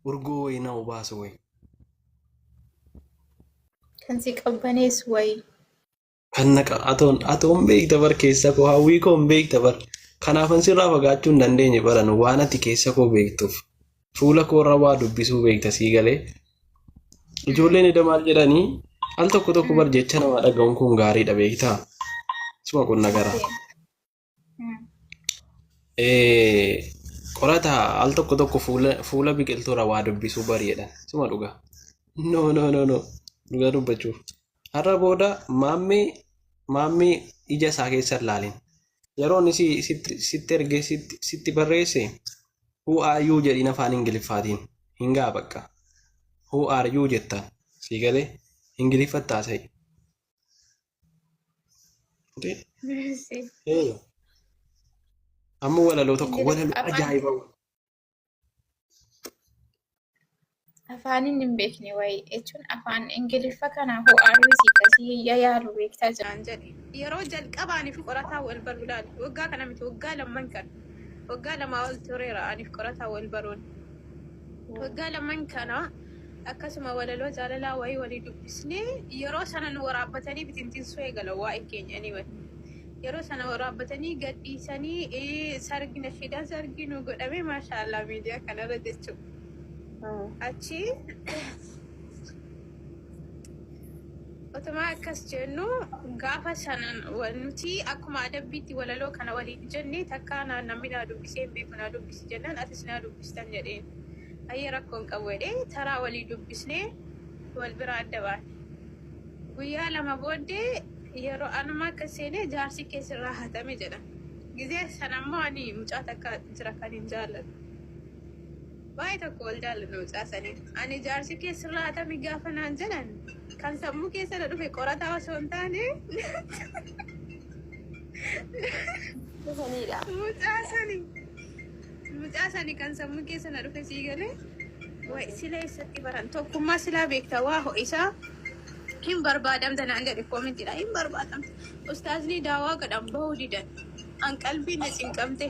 Urgoo wayi na obaasu wayi. Kan si qabbaneessu wayi. Kan na qa- atoon atoon beekta bar keessa koo hawwii koo hin beekta bar. Kanaafan sirraa fagaachuu hin dandeenye baran waan ati keessa koo beektuuf. Fuula koo irra waa dubbisuu beekta sii galee. Ijoolleen eda maal jedhanii al tokko tokko bar jecha namaa dhaga'uun kun gaariidha beektaa. Suma qunna garaa. Qorata al tokko tokko fuula biqiltuurra waa dubbisuu bari'edha. Suma dhugaa. No no no no dhugaa dubbachuuf. Har'a booda maammee maammee ija isaa keessa hin laalin. Yeroon isi sitti ergee sitti barreesse who are you jedhiin afaan ingiliffaatiin hin ga'a bakka. Who are you jettaan sii galee ingiliffa taasa'i. Fuutee? Ee. Amma walaloo tokko walaloo ajaa'iba. Afaaniin hin beekne wayii jechuun afaan Ingiliffa kana ho'aaruu si kasii yayaalu beektaa jira. Naan jedhe yeroo jalqabaa aniif qorataa wal baruu ilaali. Waggaa kana miti waggaa lamman kan waggaa lamaa ol tureera aniif qorataa wal baruun. Waggaa lamaan kana akkasuma walaloo jaalalaa wayii walii dubbisnee yeroo sana nu waraabbatanii bitintinsuu eegalan waa'ee keenya anyway. Yeroo sana waraabbatanii gadhiisanii eh, sargi na fidaa sargi nu godhamee maashaallah miidiyaa kanarra jechuudha. Achi Otumaa akkas jennu gaafa sanan wa- nuti akkuma adabbiitti walaloo kana waliin jenne takkaa naa namni naa dubbisee hin beeku naa dubbisi jennaan atis naa dubbistan jedheen. Ayyee rakkoo hin qabu jedhee taraa walii dubbisnee wal bira adda baane. Guyyaa lama booddee yeroo anuma akka seene jaarsi kee sirraa hatame jedhan. Gizee sana immoo ani mucaa takka jira kan hin jaalladhu. Baay'ee tokko wal jaallanna mucaa saniin. Ani jaarsi kee sirraa hatame gaafa naan jedhan kan sammuu keessa na dhufe qorataa osoo hin taane Dhufaniidha. mucaa sani mucaa sani kan sammuu keessa na dhufe sii galee wayi sila eessatti baran tokkummaa silaa beekta waa ho'isaa hin barbaadamta naan jedhe koomentiidha hin barbaadamta ustaazni daawaa godhan bahuu didan an qalbii na cinqamte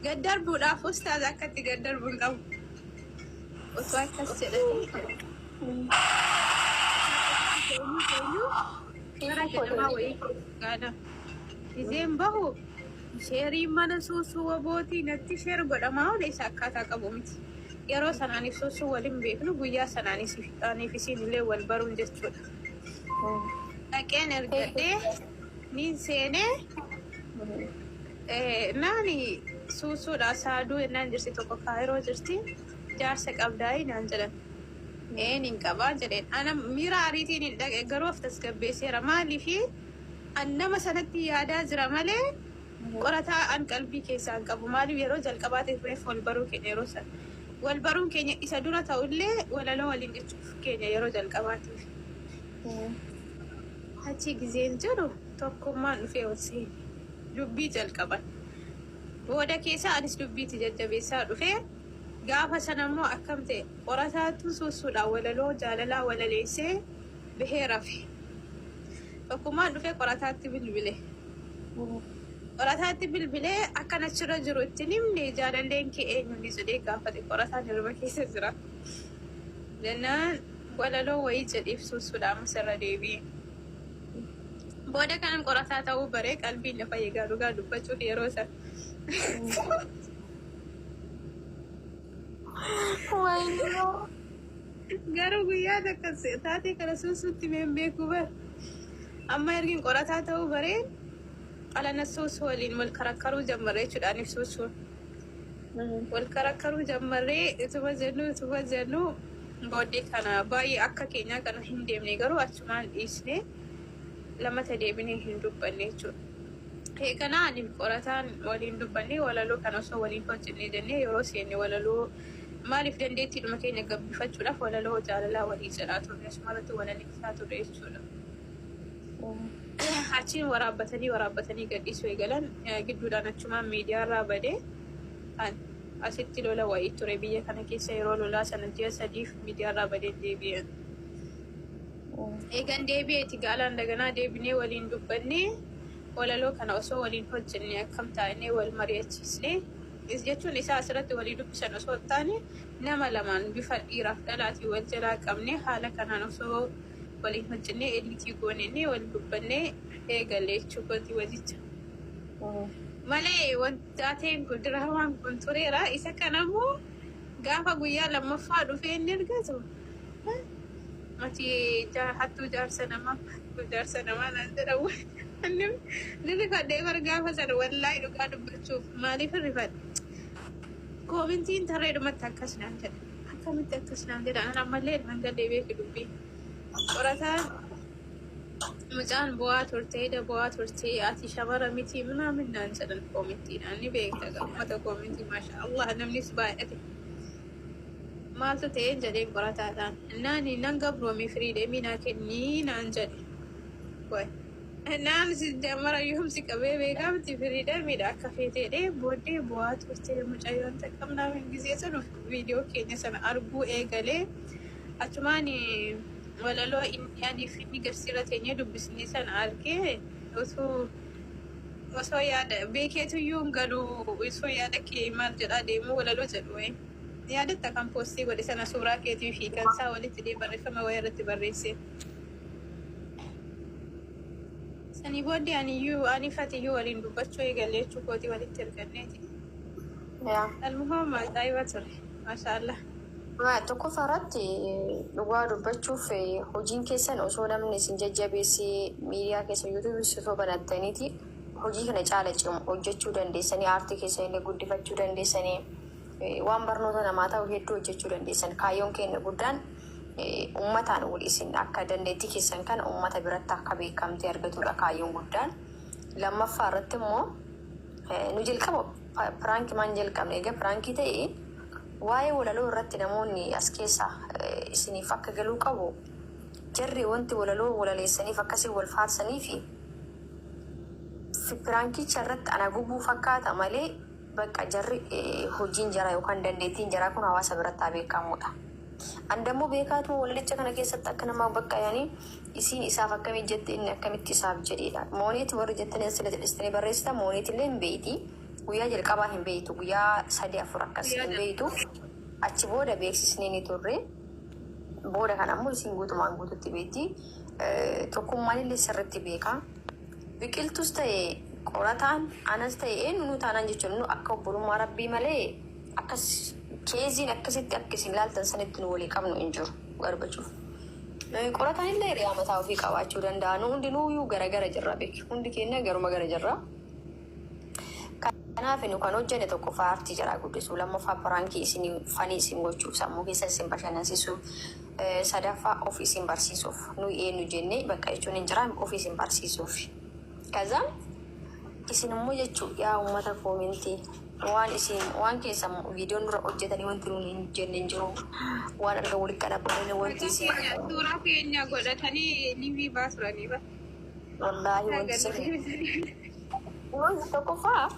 Gad darbuudhaaf ustaaz akkatti gad darbu hin qabu. Osoo akkas jedhanii seera jedhamaa wayii gaada. Gizeen bahu sheerii mana suusuu wabootii natti sheer godhamaa oole isa akkaataa qabu miti. Yeroo sanaaniif suusuu waliin beeknu guyyaa sanaaniif isiin illee wal baruun jechuudha. Dhaqeen ergadhee Niin seenee eh, naani suusuudha saaduu ennaan jirti tokko kaayiroo jirti jaarsa qabdaayii naan jedhan. Een hin qabaa jedheen. Ana miira ariitiin hin dhaqe garuu of tasgabbeesseera. Maaliif an nama sanatti yaadaa jira malee qorataa an qalbii keessaa hin qabu. Maaliif yeroo jalqabaa ta'e reef wal baruu keenya yeroo sana. Wal baruun keenya isa dura ta'ullee walaloo waliin jechuuf keenya yeroo jalqabaatiif. Achi gizeen jiru tokkummaan dhufee ol seene. Dubbii jalqaban. Booda keessa anis dubbiitti jajjabeessaa dhufe. Gaafa sana immoo akkam ta'e qorataatu suussuudhaan walaloo jaalalaa walaleessee bahee rafe. Tokkummaan dhufee qorataatti bilbile. Qorataatti bilbilee akkan achirra jiru itti hin himne jaalalleen kee eenyuuni jedhee gaafate qorataan hirriba keessa jira. Jennaan Walaloo wayii jedhiif suusuudha ammas irra deebi'ee. Booda kanan qorataa ta'uu bare qalbiin na fayye egaa dhugaa dubbachuuf yeroo sana. Wayyoo. Garuu guyyaa takka se- taatee kana suusuutti mee hin beekuu bar. Amma ergin qorataa ta'uu bare qalana suusuu waliin wal karakkaruu jammare jechuudha aniif suusuun. Wal karakkaruu jammarree utuma jennu utuma jennu booddee kana baay'ee akka keenyaa kana hin deemne garuu achumaan dhiisne lammata deebinee hin dubbanne jechuudha. Eeganaa ani qorataan waliin dubbanne walaloo kana osoo waliin hojjennee jennee yeroo seenne walaloo maaliif dandeettiidhuma keenya gabbifachuudhaaf walaloo jaalalaa walii jedhaa turre asumarratti walalisaa turre jechuudha. Achiin waraabbatanii waraabbatanii gadhiisuu eegalan. Gidduudhaan achumaan miidiyaarraa bade. Asitti lola wayii ture biyya kana keessa yeroo lolaa sana ji'a sadiif miidiyaarraa badeen deebi'e. Eegan deebi'eeti gaalaan daganaa deebinee waliin dubbannee walaloo kana osoo waliin hojjenne akkam taa'inee wal mari'achiisne is jechuun isaa asirratti walii dubbisan osoo hin taane nama lamaan bifa dhiiraaf dhalaatiin wal jalaa qabnee haala kanaan osoo waliin hojjennee ediitii goonennee wal dubbannee eegale jechuu kooti wajicha. Malee wantaateen kun diraamaan kun tureera. Isa kana immoo gaafa guyyaa lammaffaa dhufee inni argatu mati hattuu jaarsa namaa hattuu jaarsa namaa naan jedhamu. Inni ni rifadhee bar gaafa sana wallaahi dhugaa dubbachuuf maaliif rifadhe? Koomintiin tarreedhumatti akkas naan jedhe. Akkamitti akkas naan jedha an ammallee irraan gadhee beeki dubbii. Qorataan mucaan bu'aa turte ida bu'aa turte ati shamara miti minaamin naan jedhan koomittiidhaan ni beekta gaa uummata koomitii maasha Allah namnis baay'ate maaltu ta'een jedheen qorataadhaan naani nan gabroome firii deemii naa kennii naan jedhe way naan si jamara yoomsi qabee beekaa miti firii deemiidha akka feeteedhee booddee bu'aa turte mucayyoon taqqabnaa min gisee sun viidiyoo keenya sana arguu eegale. Achumaan walaloo inni anii fi inni garsiirra teenyee dubbisnee sana argee utuu osoo yaada beekeetu iyyuu hin galu osoo yaada kee maal jedhaa deemuu walaloo jedhu wayii. Yaadatta kan poostii godhe sana suuraa keetii fi kan isaa walitti dhee barreeffama wayii irratti barreesse. Sanii booddee ani iyyuu ani fati iyyuu waliin dubbachuu eegalee jechuukooti walitti erganneeti. yaa Almuham ajaa'iba ture. Maashaallah. Ma- tokkoffaa irratti eh, dhugaa dubbachuuf eh, hojiin keessan osoo namni isin jajjabeessee miidiyaa keessa yuutuubii osoo banattaniiti hojii kana caala cimu hojjechuu dandeessanii aartii keessan illee guddifachuu dandeessanii eh, waan barnoota namaa ta'u hedduu hojjechuu dandeessan kaayyoon keenya guddaan eh, ummataan wal isin akka dandeettii keessan kana ummata biratti akka beekamtii argatudha kaayyoon guddaan lammaffaa irratti immoo Nu jalqaba piraankimaan jalqabne. Egaa piraankii ta'e waa'ee walaloo irratti namoonni as keessaa isiniif akka galuu qabu jarri wanti walaloo walaleessaniif akkasii wal faarsanii fi piraankicha irratti ana gubuu fakkaata malee bakka jarri hojiin jaraa yookaan dandeettiin jaraa kun hawaasa biratti haa beekamuudha. An dammoo beekaatuma walalicha kana keessatti akka namaa bakka yani isiin isaaf akkamii jette inni akkamitti isaaf jedheedha. Mooneet warri jettanii as sila jedhistanii barreessita mooneetillee hin beeyti. Guyyaa jalqabaa hin beeytu guyyaa sadii afur akkas hin beeytu. Achi booda beeksisnee ni turre. Booda kan ammoo isiin guutumaan guututti beeyti. Tokkummaanillee sirritti beeka. Biqiltus ta'e qorataan anas ta'e eenyunuu taanaan jechuun nu akka obbolummaa rabbii malee Akkas keeziin akkasitti akka isin laaltan sanitti nu walii qabnu hin jiru Gorbachuuf. Eh, Qoratan illee hiriyaa mataa ofii qabaachuu danda'a. Nu hundinuuyyuu gara gara jirra beeki. Hundi keenya garuma gara jirra. Kanaaf nu kan hojjenne tokkoffaa aartii jaraa guddisuu, lammaffaa piraankii isin fanii isin gochuuf, sammuu keessa isin bashannansiisuuf, eh, sadaffaa of isin barsiisuuf. Nuyi eenyu jennee bakka jechuun hin jiraan of isin barsiisuuf. Kazaan isin immoo jechuu yaa uummata koomentii waan isin waan keessan viidiyoon dura hojjetanii wanti nuun hin jenne hin jiru waan erga walitti qalabbamanii wanti isin Suuraa keenya godhatanii liivii baasuranii ba. wallaahi wanti isin Wanti tokkoffaa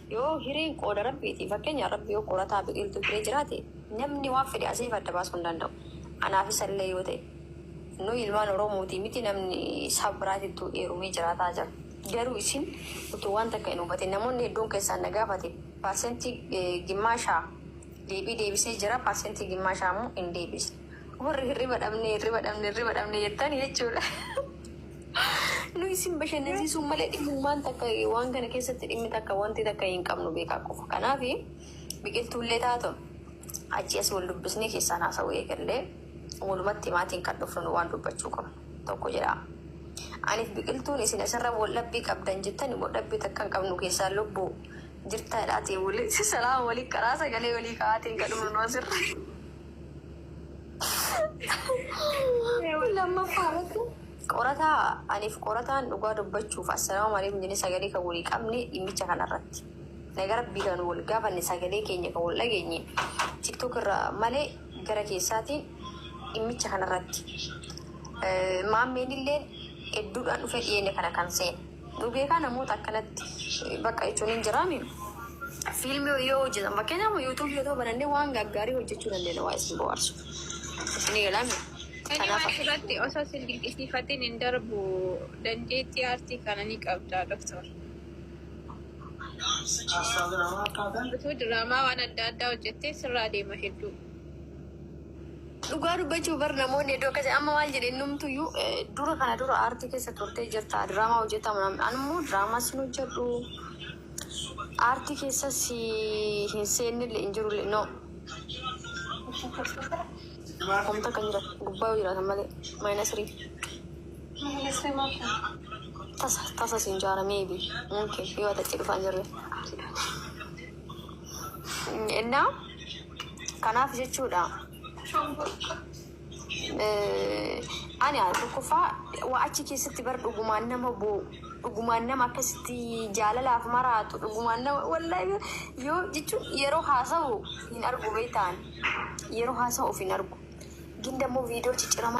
yoo hireen qooda rabbiiti fakkeenya rabbi yoo qorataa biqiltuu hiree jiraate namni waan fedhe asii fi adda baasuu hin danda'u. Anaaf isallee yoo ta'e. Nuyi ilmaan Oromootii miti namni saba biraatittuu heerumee jiraataa jira. Garuu isin utuu waan takka hin hubatin namoonni hedduun keessaan na gaafate parsentii gimmaasha deebii deebisee jira parsentii gimmaasha ammoo hin deebisne. Warri hirriba dhabne hirriba dhabne hirriba dhabne jettan jechuudha. Nu isin bashannansiisuun malee dhimmi waan takka waan kana keessatti dhimmi takka wanti takka hin qabnu beekaa qofa. Kanaaf biqiltuullee taatu achi as wal dubbisnee keessaan haasa'uu eegallee. Walumatti maatiin kan dhufnu waan dubbachuu qabnu tokko jira. Aniif biqiltuun isin asirra waldhabbii qabdan jettani waldhabbii takka hin qabnu keessaan lubbu jirta jedhaatiin wali salaama wali karaa sagalee walii ka'aatiin kan dhufnu asirra. Lammaffaa irratti qorataa aniif qorataan dhugaa dubbachuuf assalaamu alaikum jennee sagalee kan walii qabne dhimmicha kanarratti. Naga rabbii kan wal gaafanne sagalee keenya kan wal dhageenye tiktok irraa malee Gara keessaatiin dhimmicha kana irratti Maammeen illeen hedduudhaan dhufee dhiyeenya kana kan seene. Nu beekaa namoota akkanatti bakka jechuun hin jiraa mim. Fiilmii yoo hojjetan fakkeenyaaf amma yuutuubii otoo banannee waan gaggaarii hojjechuu dandeenya waa isin bohaarsu. Isinii galaa mim. Ani Kanaaf waan akka irratti osoo sin dinqisiifatin hin darbu. Dandeettii aartii kana ni qabda Doktar. Utuu diraamaa waan adda addaa hojjettee sirraa deema hedduu. Dhugaa dubbachuu bar namoonni iddoo akkasii amma maal jedhe innumtuyyuu eh, dura kana dura aartii keessa turtee jirta diraamaa hojjetaa manaan anummoo diraamaa sin hojjedhu aartii keessa si hin seennille hin jirule no homta kan jira gubbaa yoo jiraatan malee maayinasirii. Maalifree maaf tasa tasa siin jaara maybe mumkin yoo ati achi dhufaa jirre innaa kanaaf jechuudha eh, ani haa tokkoffaa waa achi keessatti bar dhugumaan nama boo'u dhugumaan nama akkasitti jaalalaaf maraatu dhugumaan nama wallaahi yoo jechuun yeroo haasa'u hin argu beektaan yeroo haasa'u of hin argu gin dammoo viidiyoo cicciramaa